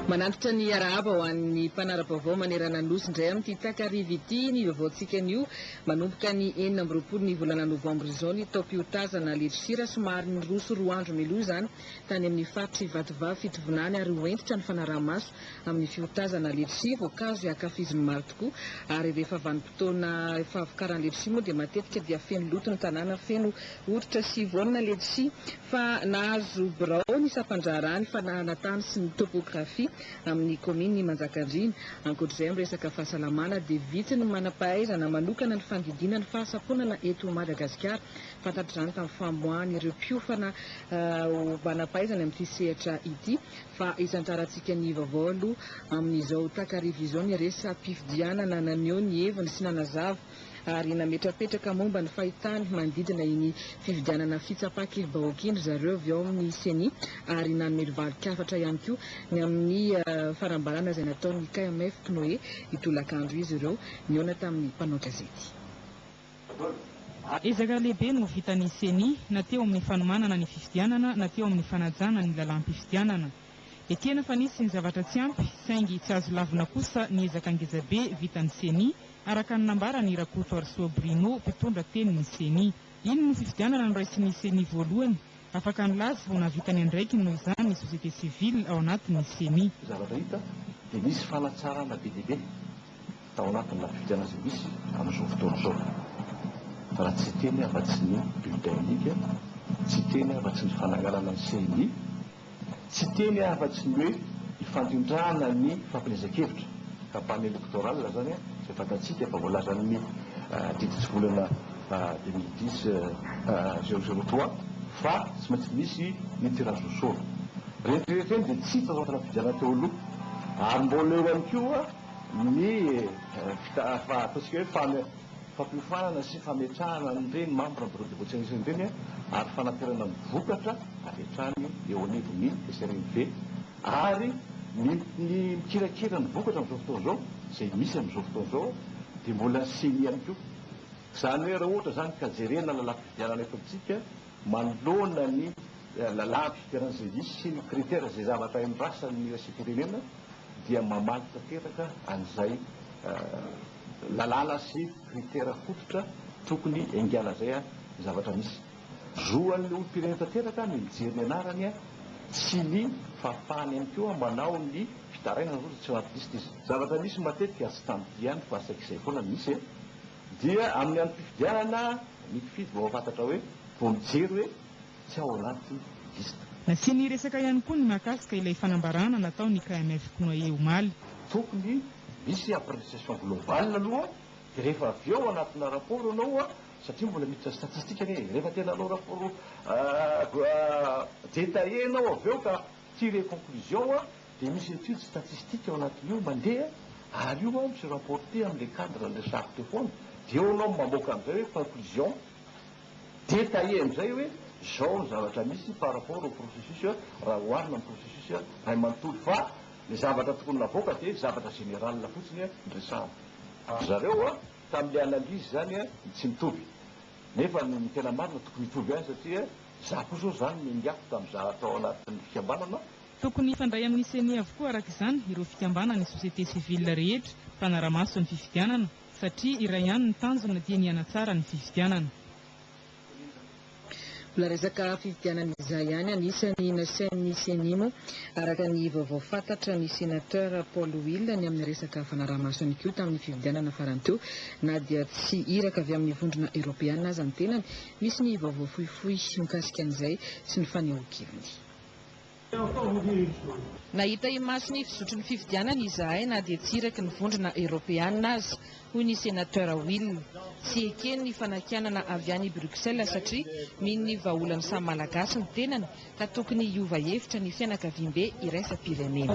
Manantitra ny arahaba ho an'ny mpanara-baovao manerana ny Nosy indray amin'ity takariva ity ny vaovaontsika anio. Manomboka ny enina amby roapolo ny volana novambra izao ny taom-piotazana ledrosira somary niroso roa andro mialoha izany tany amin'ny faritr'i Vatovavy Fitovinany ary ho entitra ny fanaraha-maso amin'ny fiotazana ledrosia voankazo izay ankafizin'ny maro tokoa ary rehefa vanim-potoana fahavokaran'ny ledrosia moa dia matetika dia feno loto ny tanàna feno Oritra sy Yvonne Letshi, fa nahazo birao ny sampan-draharaha ny fanahana tany sy ny topografia amin'ny kaominina i Manjakandriana. Ankoatra izay amin'ny resaka fahasalamana dia vitsy ny manam-pahaizana manokana ny fandidiana ny fahasamponana eto Madagasikara. Fantatra izany tamin'ny famoahan'ireo mpiofana ho manam-pahaizana amin'ity sehatra ity fa hisandrarantsika ny vaovao aloha amin'izao takariva izao ny resa-pifidianana naneho ny heviny sy nanazava ary nametrapetraka momba ny fahitany manodidina iny fifidianana fitsapan-kevi-bahoaka iny ry zareo avy ao amin'ny Ceni ary nanome lovalik'hafatra ihany koa ny amin'ny fanambarana izay nataon'ny KMF Pnoe io tolakandro izy ireo nihaona tamin'ny mpanao gazety. Ezaka lehibe no vitan'ny Ceni na teo amin'ny fanomanana ny fifidianana na teo amin'ny fanajana ny lalàm-pifidianana. Ekena fa nisy ny zavatra tsy ampy, saingy tsy azo lavina kosa ny ezaka ngezabe vitan'ny Ceni, araka ny nambaran'i Rakotoarisoa Bruno, mpitondra tenin'ny Ceni. Iny no fifidianana noraisin'ny Ceni voalohany. Afaka nilaza ho nahavita ny andraikiny noho izany ny société civile ao anatin'ny Ceni. Zavatra hita dia nisy fanatsarana be dia be tao anatin'ny lafim-pifidianana izay misy amin'izao fotoana izao. Raha tsy hiteny afa-tsy ny bulletin unique, tsy hiteny afa-tsy ny fananganana ny Ceni, Tsy teny afa-tsy ny hoe hifandrindrana ny fampielezan-kevitra, campagne électorale izany izay fantatsika fa voalazan'ny didy tsy volana deux mille dix zéro zéro trois fa tsy maintsy misy ny tirage au sort. Ireny rehetra ireny dia tsy hita tao anatin'ny fifidianana teo aloha ary mbola eo ihany koa ny ataontsika hoe fan fampiofanana sy fametrahana an'ireny membre bureau de vote sahirana ireny ary fanaperana ny vokatra avy hatrany eo anivon'ny SRMV ary ny ny mikirakira ny vokatra amin'izao fotoana izao izay misy amin'izao fotoana izao dia mbola ny ceni ihany koa izany hoe raha ohatra izany ka jerena lalam-pifidianana eto amintsika manoloana ny lalam-pifidianana izay misy sy ny critère izay zavatra endrasan'ny iraisam-pirenena dia mamaly tanteraka an'izay lalàna sy kritera fototra tokony engalazay ny zavatra misy. Zoan'ny olom-pirenena tanteraka ny mijery ny anarany sy ny fahafahany ihany koa manao ny fitarainana ohatra tsy ao anaty liste izy. Zavatra misy matetika tsy tamiko ihany fa saika izay foana no misy e! Dia amin'ny androm-pifidianana ny mpifidy vao mahafantatra hoe, vao mijery hoe tsy ao anaty liste. Nasiany resaka ihany koa ny mahakasika ilay fanambarana nataon'ny KMF Knuaie omaly. Tokony Misy appréciation globale aloha dia rehefa avy eo anatina rapport ianao a, satria mbola miditra statistique anie e, rehefa tena hanao rapport détaillé ianao avy eo ka tirer conclusion a, dia misy étude statistique ao anatin'io mandeha, ary io a mi-rapporter amin'ilay cadre an'ilay charte io foana, dia eo ianao mamoaka amin'izay hoe conclusion détaillée amin'izay hoe izao ny zavatra misy par rapport au processus raha oharina amin'ny processus ray manontolo, fa Le zavatra tokony lavoaka de zavatra general fotsiny ny resahana. Ry zareo a tam le analyse zany a ny tsy mitovy. Nefa ny tena marina tokony hitovy ihany satria za koa zao zany no niafy tam za tao anatin'ny fikambanana. Tokony hifandray amin'ny ceni avokoa araka izany ireo fikambanana ny société civile rehetra mpanaramaso ny fifidianana satria iray ihany ny tanjona dia ny hanatsara ny fifidianana. Mbola resaka fifidianana izay ihany anisany nasain'ny Ceni moa araka ny vaovao fantatra ny Senateur Paul Will ny amin'ny resaka fanaraha-maso ihany koa tamin'ny fifidianana farany teo na dia tsy iraka avy amin'ny vondrona eropeana aza ny tenany. Misy ny vaovao fohifohy mikasika an'izay sy ny fanehoan-keviny. Nahita imaso ny fizotry ny fifidianana izahay na dia tsy iraky ny Vondrona Eoropeana aza, hoy ny Senateur Will. Tsy ekeny ny fanakianana avy any Bruxelles satria mino ny vahaolan'ny samy Malagasy ny tenany ka tokony hiova hevitra ny fianakaviambe iraisam-pirenena.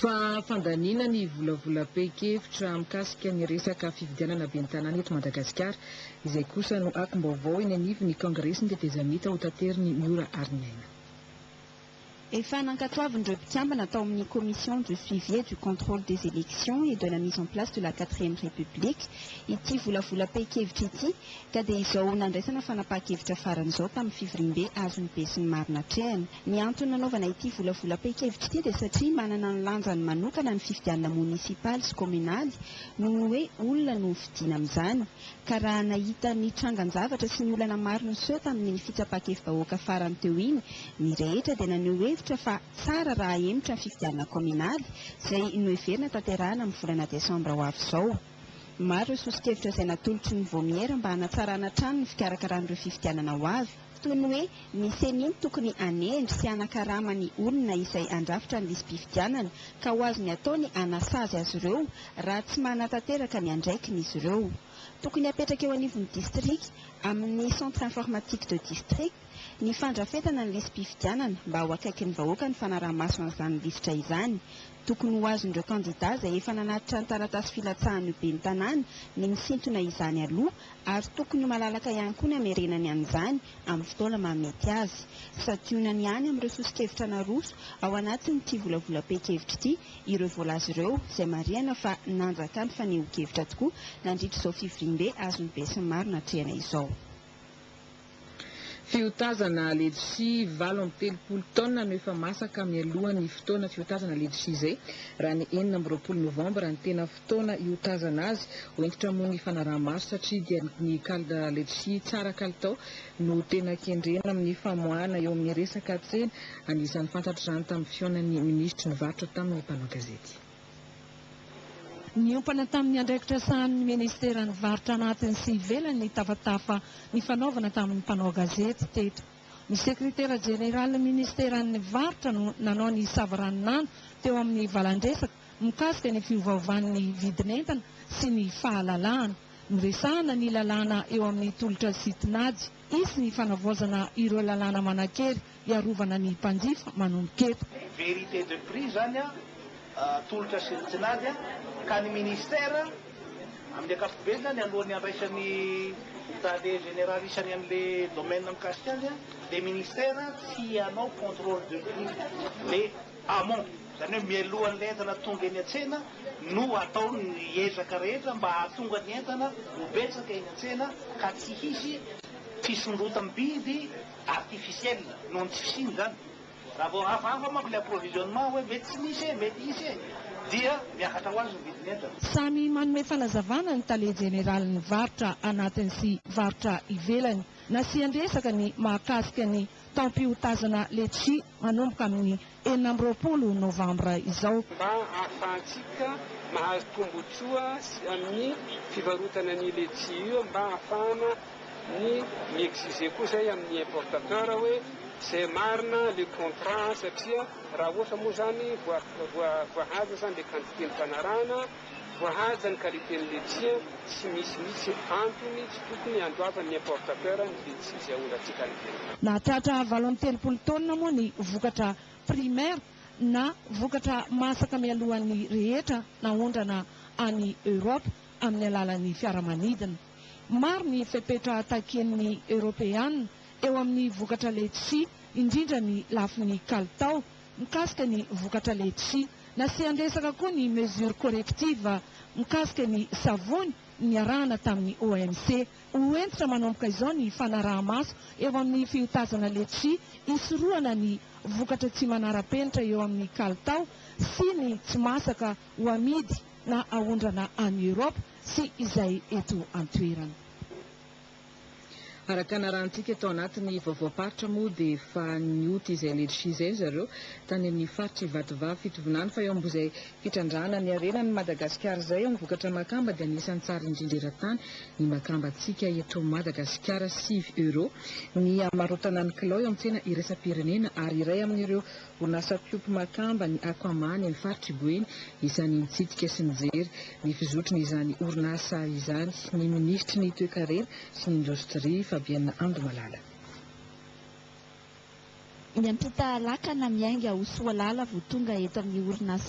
Fa fandaniana ny volavolam-pehin-kevitra mikasika ny resaka fifidianana ben'ny tanàna eto Madagasikara. Izay kosa no akom-baovao eny anivon'ny Kaongresin'ny tetezamita hotaterin'i Miora Ariniaina. Efa nankatoavin'ireo mpikambana tao amin'ny Commission du suivi et du contrôle des élections et de la mise en place de la quatrième république ity volavolam-pehin-kevitra ity Ka dia izao nandraisana fanapahan-kevitra farany izao tamin'ny fivoriambe azon'ny besinimaro natrehana. Ny antony nanaovana ity volavolam-pahan-kevitra ity dia satria manana ny lanjany manokana ny fifidianana monisipaly sy kaominaly noho ny hoe olona no hofidiana amin'izany. Ka raha nahita ny trangan-javatra sy ny olana maro niseho tamin'iny fitsapan-kevi-bahoaka farany teo iny ny rehetra dia naneho hevitra fa tsara raha hahemotra ny fifidianana kaominaly izay noheverina tanterahana amin'ny volana desambra ho avy izao. Maro ireo soso-kevitra izay natolotry ny Vaomiera mba hanatsarana hatrany ny fikarakarana ireo fifidianana ho avy, toy ny hoe ny Ceni no tokony hanendry sy hanakarama ny olona izay handrafitra ny lisi-pifidianana ka ho azony atao ny hanasazy azy ireo raha tsy manatanteraka ny andraikiny izy ireo. Tokony hapetraka eo anivon'ny distrika, amin'ny centre informatique de district, ny fandrafetana ny lisi-pifidianana mba ho akaikin'ny vahoaka ny fanaraha-maso an'izany lisitra izany, Tokony ho azon'ireo kandidà izay efa nanatitra ny taratasy filatsahan'ny ho ben'ny tanàna ny misintona izany aloha ary tokony ho malalaka ihany koa ny hamerenany an'izany amin'ny fotoana mahamety azy. Santionany ihany amin'ireo soso-kevitra naroso ao anatin'ity volavolam-pehin-kevitra ity ireo voalaza ireo izay marihana fa nanjaka ny fanehoan-kevitra tokoa nandritra izao fivoriambe azon'ny besinimaro natrehana izao. Fiotazana ledsi valo amby telopolo taona no efa masaka mialohan'ny fotoana fiotazana ledsi izay, raha ny enina amby roapolo novambra ny tena fotoana hiotazana azy, ho hentitra moa ny fanaraha-maso satria dia ny kal ledsi tsara kalitao no tena kendrena amin'ny famoahana eo amin'ny resaka tsena, anisan'ny fantatra izany tamin'ny fihaonan'ny minisitry ny varotra tamin'ny mpanao gazety. Niompana tamin'ny andraikitra sahanin'ny Ministeran'ny varotra anatiny sy ivelany ny tafatafa nifanaovana tamin'ny mpanao gazety teto. Ny Sekretera Jeneralin'ny Ministeran'ny varotra no nanao ny savaranonando teo amin'ny valandresaka mikasika ny fiovaovan'ny vidin'entana sy ny fahalalahana. Noresahana ny lalàna eo amin'ny tolotra sy tinady. Hisy ny fanavaozana ireo lalàna manan-kery hiarovana ny mpanjifa manomboka eto. Vérité de prix zany an, tolotra sy ny tinady an, ka ny ministère amin'ny ankapobeny zany alohan'ny handraisany tale général isany an'le domaine mikasika azy an, le ministère tsy hanao contrôle de prix, le. amont, izany hoe mialohan'ilay entana tonga eny an-tsena no atao ny ezaka rehetra mba hahatonga ny entana ho betsaka eny an-tsena ka tsy hisy fisondrotam-bidy artificiel noho ny tsy fisiany izany. Raha vao hafahafa manko ilay approvisionnement hoe mety tsy misy e, mety hisy e, dia miakatra ho azy ny vidin'entana. Samy manome fanazavana ny tale jeneralin'ny varotra anatiny sy varotra ivelany. Nasian-dresaka ny mahakasika ny taom-piotazana letchi manomboka amin'ny enina amby roapolo novambra izao. mba ahafahantsika mahazo tombontsoa sy amin'ny fivarotana an'io letchi io mba ahafahana ny mi-exiger koa izay amin'ny importateur hoe izay marina le contrat satria raha ohatra moa izany voa voa voahaja izany le quantité nifanarahana Voahaja ny qualité ny letchie an, tsy misy mihitsy antony tsy tokony handoavan'ny importateur ny letchie izay aondratsika any ivelany. Nahatratra valo amby telopolo taonina moa ny vokatra primaire na vokatra masaka mialohan'ny rehetra naondrana any Europe amin'ny alalan'ny fiaramanidina. Maro ny fepetra takian'ny Eoropeana eo amin'ny vokatra letchie indrindra ny lafiny kalitao mikasika ny vokatra letchie. Nasian-dresaka koa ny mesures correctives mikasika ny savony niarahana tamin'ny OMC. Ho hentitra manomboka izao ny fanaraha-maso eo amin'ny fiotazana letchi, hisorohana ny vokatra tsy manara-penitra eo amin'ny kalitao sy ny tsy masaka ho amidy na aondrana any Europe sy izay eto an-toerana. Araka ny narahantsika tao anatin'ny vaovaom-paritra moa dia efa nioty izay ledshi izay ry zareo tany amin'ny faritra Ivatovavy Fitovinany fa eo ambozay fitrandrahana ny harena ny Madagasikara izay amin'ny vokatra makamba dia anisan'ny tsara indrindra eran-tany ny makambantsika eto Madagasikara sivy euros ny hamarotana ny kilao eo amin'ny tsena iraisam-pirenena ary iray amin'ireo Orinasa Piopi Makamba ny Aquaman any amin'ny faritr'i Boeny, isan'ny nitsidika sy nijery ny fizotrn'izany orinasa izany ny minisitry ny Toekarena sy ny Indostria, Fabienne Andomalala. Niampita lakana miainga ho soalala vao tonga eto amin'ny orinasa